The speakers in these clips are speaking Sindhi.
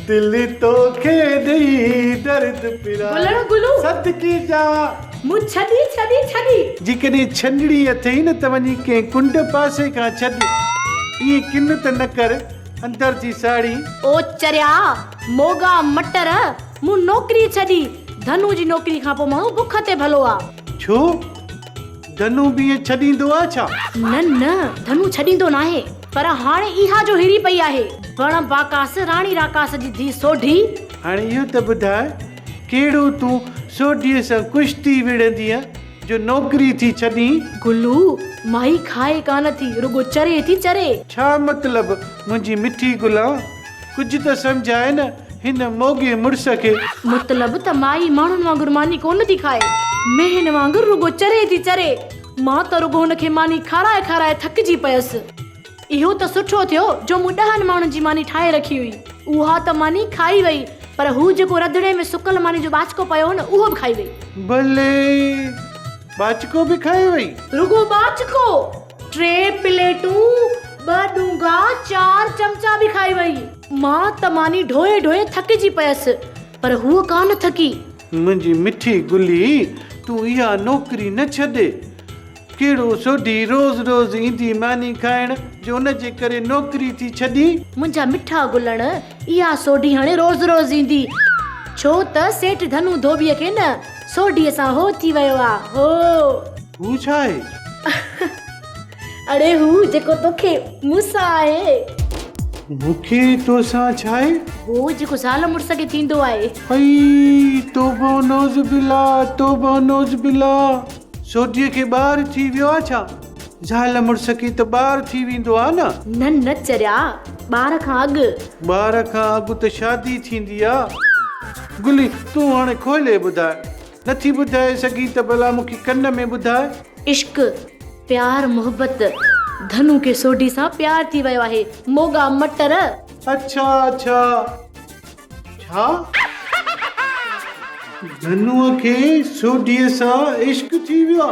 دل توکي ڏئي درد پرا. گلڻ گلون. صدقي جاء. مون ڇڏي ڇڏي ڇڏي. جيڪڏهن ڇنڊڻي اٿئي نه ته وڃي ڪنهن ڪنڊ پاسي کان ڇڏ. ائين ڪن ته نه ڪر اندر جي ساڙهي. او چريا موڳا مٽر مون نوڪري ڇڏي. ڌنو جي نوڪري کان پوء ماڻهو بک تي ڀلو آ. ڇو؟ ڌنو به ائين ڇڏيندو آ ڇا؟ نه نه ڌنو ڇڏيندو ناهي پر هاڻي اها جو هري پئي آهي بڻ باڪاس راڻي راڪاس جي ڌي سوڍي. هاڻي اهو ته ٻڌاء ڪهڙو تون سوڍيء سان ڪشتي وڙهندينء جو نوڪري ٿي ڇڏين؟ گلو، مائي کائي ڪانه ٿي رڳو چري ٿي چري. ڇا مطلب منهنجي مٺي گلان؟ ڪجهه ته سمجهاء نه هن موڳي مڙس کي. مطلب ته مائي ماڻهن وانگر ماني ڪونه ٿي کائي. مينهن وانگر رڳو چري ٿي چري. مان ته رڳو هن کي ماني کارائي کارائي ٿڪجي پيس. اهو ته سٺو ٿيو جو مون ڏهن ماڻهن جي ماني ٺاهي رکي هئي. اها ته ماني کائي وئي پر هو جيڪو رڌڻي ۾ سڪل ماني جو ٻاچڪو پيو هو نه اهو به کائي وئي. بلي! ٻاچڪو به کائي وئي؟ رڳو ٻاچڪو! ٽي پليٽون، ٻه ڏونگا، چار چمچا به کائي وئي. مان ته ماني ڍوئي ڍوئي ٿڪجي پيس، پر هوء ڪا نه ٿڪي. منهنجي مٺي گلي، تون اها نوڪري نه ڇڏ. ڪهڙو سوڍي روز روز ايندي ماني کائڻ، جو ان جي ڪري نوڪري ٿي ڇڏين. منهنجا مٺا گلڻ، اها سوڍي هاڻي روز روز ايندي، ڇو ته سيٺ ڌنو ڌوٻيء کي نه سوڍيء سان هو ٿي ويو آ. هو! هو ڇا آهي؟ اڙي هو جيڪو توکي مون سان آهي. مون کي تو سان ڇا آهي؟ هو جيڪو زال مڙس کي ٿيندو آهي. اي توبه و نعوذ بالله، توبه و نعوذ بالله، سوڍيء کي ٻار ٿي ويو آ ڇا؟ زال مڙس کي ته ٻار ٿي ويندو آ نه. نه نه چريا ٻار کان اڳ. ٻار کان اڳ ته شادي ٿيندي آ. گلي تون هاڻي کولي ٻڌاء. نٿي ٻڌائي سگهين ته ڀلا مون کي ڪن ۾ ٻڌاء. عشق پيار محبت ڌنو کي سوڍي سان پيار ٿي ويو آهي موڳا مٽر. اڇا اڇا ڇا. ڌنوء کي سوڍيء سان عشق ٿي ويو آ.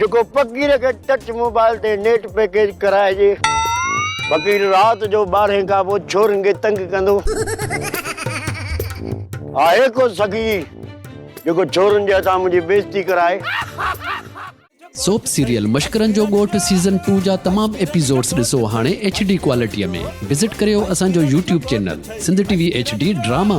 جيڪو فقير کي ٽچ موبائل تي نيٽ پيڪيج ڪرائجي. فقير رات جو ٻارهين کان پوء ڇورين کي تنگ ڪندو. آهي ڪو سخي جيڪو ڇورين جي هٿان منهنجي بيزتي ڪرائي. سوپ سيريل مشڪرن جو ڳوٺ سيزن ٽو جا تمام ايپيزوڊس ڏسو هاڻي ايڇ ڊي ڪوالٽيء ۾ وزٽ ڪريو اسان جو YouTube channel Sindh T V H D drama.